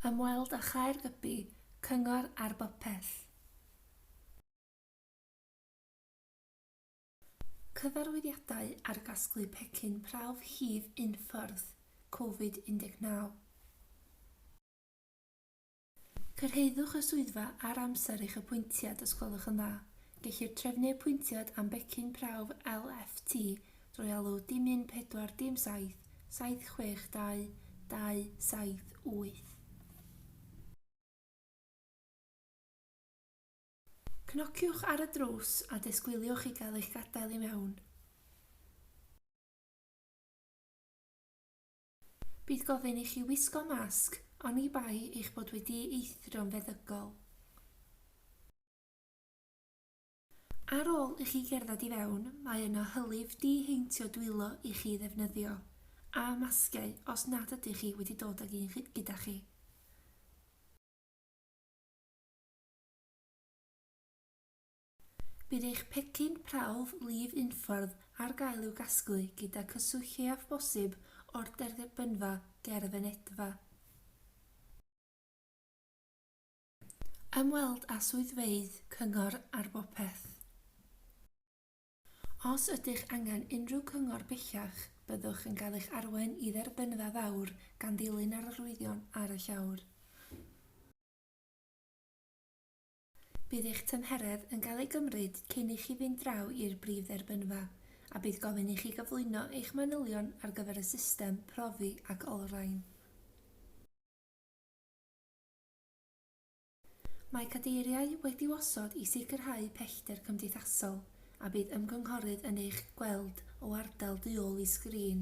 Ymweld â Chaer Gybi, Cyngor ar Bopeth. Cyfarwyddiadau ar gasglu pecyn prawf hif unffordd, Covid 19. Cyrhaeddwch y swyddfa ar amser eich apwyntiad os gwelwch yn dda. Gellir trefnu apwyntiad am becyn prawf LFT Drwy alw dim un pedwar dim saith, saith chwech dau, dau saith wyth. Cnociwch ar y drws a disgwyliwch i gael eich gadael i mewn. Bydd gofyn i chi wisgo masg, oni bai eich bod wedi eithrio yn feddygol. Ar ôl i chi gerdded i fewn, mae yna hylif di-heintio dwylo i chi ddefnyddio, a masgiau os nad ydych chi wedi dod ag un gyda chi. Bydd eich pecyn prawf lif unffordd ar gael i'w gasglu gyda cyswllt lleiaf bosib o'r derbynfa ger y fynedfa. Ymweld â swyddfeydd Cyngor ar Bopeth. Os ydych angen unrhyw gyngor bellach, byddwch yn cael eich arwain i Dderbynfa Fawr gan ddilyn yr arwyddion ar y llawr. Bydd eich tymheredd yn cael ei gymryd cyn i chi fynd draw i'r brif dderbynfa, a bydd gofyn i chi gyflwyno eich manylion ar gyfer y system profi ac olrhain. Mae cadeiriau wedi'u osod i sicrhau pellter cymdeithasol a bydd ymgynghorydd yn eich gweld o ardal du ôl i sgrin.